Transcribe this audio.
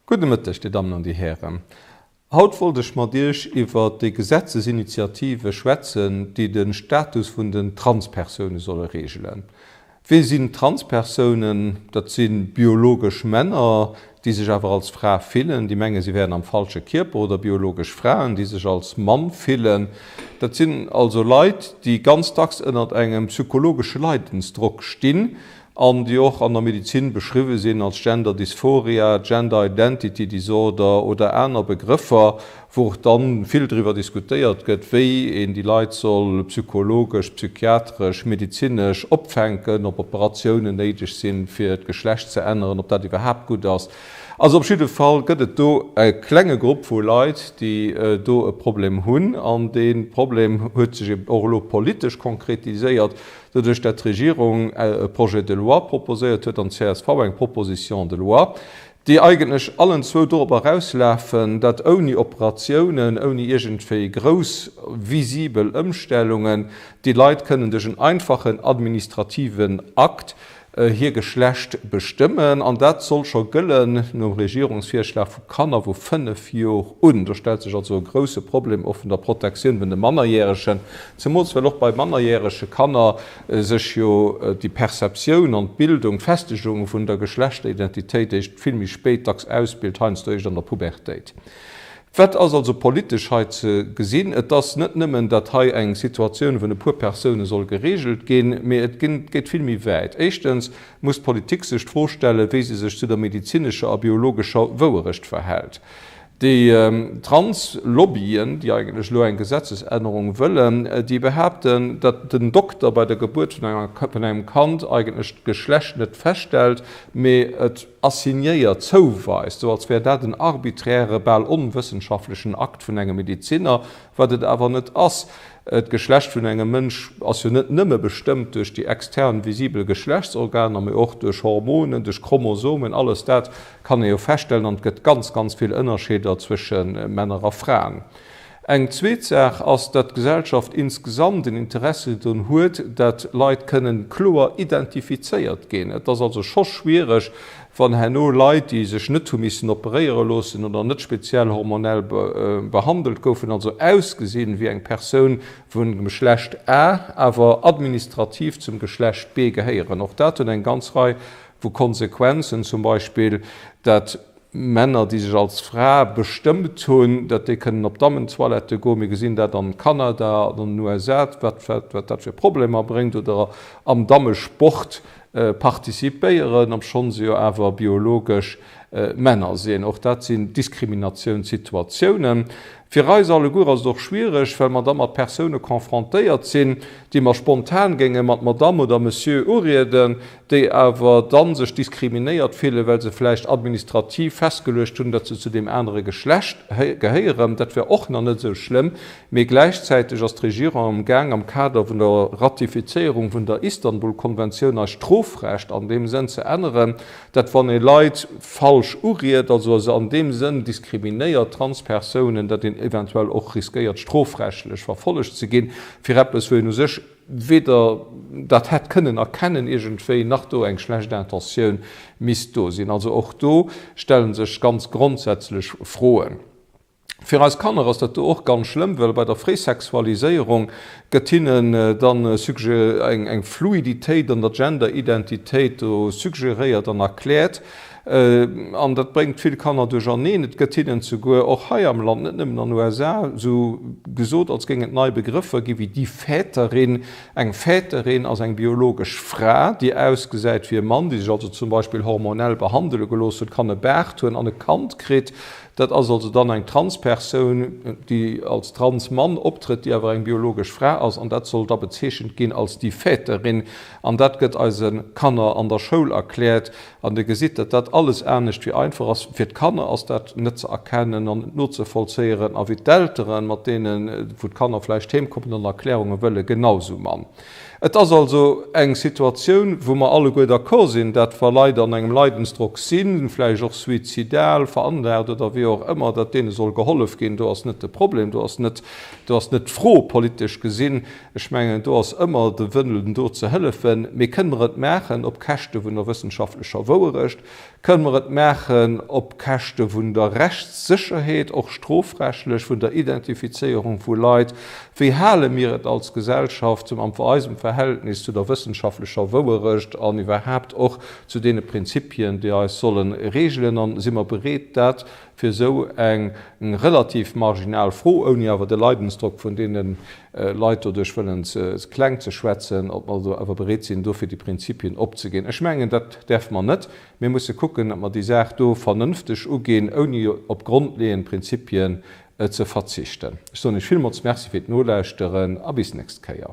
Gudde Mëtteg, Dir Dammen an Dir Hären. Haut wollt ech mat Iech iwwert déi Gesetzesinitiative schwätzen, déi de Status vun den Transpersoune solle reegelen. Wie sinn Transpersounen? Dat si biologesch Männer, déi sech awer als Fra fillen, déi menge si wären am falsche Kierper, oder biologesch Fraen, déi sech als Mann fillen. Dat sinn also Leit, déi ganz dacks ënnert engem psychologesche Leidensdrock stinn, an déi och an der Medezin beschriwwe sinn als Gender Dysphoria, Gender Identity Disorder oder aner Begrëffer, wou och dann vill driwwer diskutéiert gëtt, wéi een déi Leit soll psychologesch, psychiatresch, medezinesch opfänken, ob Operatiounen néideg sinn, fir d'Geschlecht ze änneren, ob dat iwwerhaapt gutt ass. Also op jidde Fall gëtt et do e klenge Grupp vu Leit, déi do e Problem hunn, an dee Problem huet sech eben och elo politesch konkretiséiert. Doduerch dat d'Regierung e Projet de loi proposéiert huet an csv eng Proposition de loi, déi eigentlech allen zwou dorop erauslafen, datt ouni Operatiounen, ouni iergendwéi grouss visibel Ëmstellungen déi Leit kënnen duerch en einfachen administrativen Akt hir Geschlecht bestëmmen, an dat soll scho gëllen nom Regierungsvirschlag vu Kanner vu 5 Jor un. Do stellt sech also e grousse Problem och vun der Protektioun vun de Mannerjäregen, zemools well och bei mannerjärege Kanner sech jo déi Perceptioun an d'Bildung, d'Festegung vun der Geschlechteridentitéit eischt vill méi spéit dacks ausbilt, heiansdo eischt an der Pubertéit. Wat ass also politesch hei ze gesinn? Et ass net nëmmen, datt hei eng Situatioun vun e puer Persoune soll geregelt ginn, mee et geet vill méi wäit. Éischtens muss d'Politik sech d'Fro stellen, wéi se sech zu der medezinescher a biologescher Wouerecht verhält. Déi Trans-Lobbyen, déi eigentlech elo eng Gesetzesännerung wëllen, déi behaapten, datt den Dokter bei der Gebuert vun engem Kand eigentlech d'Geschlecht net feststellt, mee et, assignéiert zouweist, sou als wär dat en arbiträre, bal onwëssenschaftlechen Akt vun engem Medezinner, wat et awer net ass. D'Geschlecht vun engem Mënsch ass jo net nëmme bestëmmt duerch déi extern visibel Geschlechtsorganer, mee och duerch Hormonen, duerch Chromosomen, alles dat kann ee jo feststellen an et gëtt ganz, ganz vill Ënnerscheeder zwësche Männer a Fraen. Eng zweet Saach ass, datt d'Gesellschaft insgesamt en Interesse drun huet, datt Leit kënnen kloer identifizéiert ginn. Et ass also scho schwiereg, wann herno Leit, déi sech net hu missen operéiere loossen oder net speziell hormonell behandelt goufen, also ausgesinn wéi eng Persoun vum Geschlecht A, awer administrativ zum Geschlecht B gehéieren. Och dat huet eng ganz Rei vu Konsequenzen, zum Beispill, datt Männer, déi sech als Fra bestëmmt hunn, datt déi kënnen op Dammentoilette goen. Mir gesinn dat an Kanada an an den USA, wat dat fir Problemer bréngt. Oder am Dammesport participéieren, obschonn se jo awer biologesch Männer sinn. Och dat sinn Diskriminatiounssituatiounen. Fir eis alleguer ass et och schwiereg, well mer da mat Persoune confrontéiert sinn, déi mer spontan géinge mat Madame oder Monsieur urieden. déi awer da sech diskriminéiert fillen, well se vläicht administrativ festgeluecht hunn, datt se zu deem anere Geschlecht gehéieren, dat wär och nach net esou schlëmm, mee gläichzäiteg ass d'Regierung am Gaang am Kader vun der Ratifizéierung vun der Istanbul-Konventioun eist Strofrecht an deem Sënn ze änneren, datt wann ee Leit falsch uriet, also a se an deem Sënn diskriminéiert, Transpersounen, datt een eventuell och riskéiert strofrechtlech verfollegt ze ginn fir eppes, wou een u sech. weder dat hätt kënnen erkennen iergendwéi, nach do eng schlecht Intentioun misst do sinn. Also och do stelle sech ganz grondsätzlech Froen. Fir eis Kanner ass dat do och ganz schlëmm, well bei der Fréisexualiséierung gëtt hinnen dann eng Fluiditéit an der Gender-Identitéit do suggeréiert an erkläert, An dat bréngt vill Kanner duercherneen. Et gëtt hinnen souguer och hei am Land, net nëmmen an USA, esou gesot, als géing et nei Begrëffer ginn, wéi die Väterin. Eng Väterin ass eng biologesch Fra, déi ausgesäit wéi e Mann, déi sech also zum Beispill hormonell behandele gelooss huet, kann e Baart hunn an e Kand kritt. Dat ass also dann eng Transpersoun, déi als Transmann optrëtt, déi awer eng biologesch Fra ass. An dat soll da bezeechent ginn als die Väterin. An dat gëtt eise Kanner an der Schoul erkläert. An Dir gesitt, datt dat alles anescht wéi einfach ass. Fir d'Kanner ass dat net ze erkennen an net nozevollzéieren a wéi d'Elteren, mat deenen, wou d'Kanner vläicht heem kommen, dann Erklärunge wëllen, genausou mann. Et ass also eng Situatioun, wou mer alleguer d'accord sinn, datt wa Leit an engem Leidensdrock sinn, vläicht och suizidal veranlagt oder wéi och ëmmer, datt deene soll gehollef ginn. Do ass net de Problem. Do ass net, do ass net d'Fro, politesch gesinn, Ech mengen, do ass ëmmer de Wënlen do ze hëllefen. Mee kënne mer et maachen op Käschte vun der wëssenschaftlecher Wouerecht? Kënne mer et maachen op Käschte vun der Rechtssécherheet, och strofrechtlech, vun der Identifizéierung vu Leit? Wéi hale mir et als Gesellschaft mam eisem Verhältnis zu der wëssenschaftlecher Wouerecht an iwwerhaapt och zu deene Prinzipien, déi eis solle reegelen? A si mer bereet dat, fir esou eng relativ marginal Fro, ouni awer de Leidensdrock vun deene Leit doduerch wëllen kleng ze schwätzen, ob mer awer bereet sinn, do fir déi Prinzipien opzeginn. Ech mengen, dat däerfe mer net. Mir musse kucken, datt mer déi Saach do vernënfteg uginn, ouni op grondleeënd Prinzipien ze verzichten. Ech soen Iech villmools Merci fir d'Nolauschteren a bis d'nächst Kéier.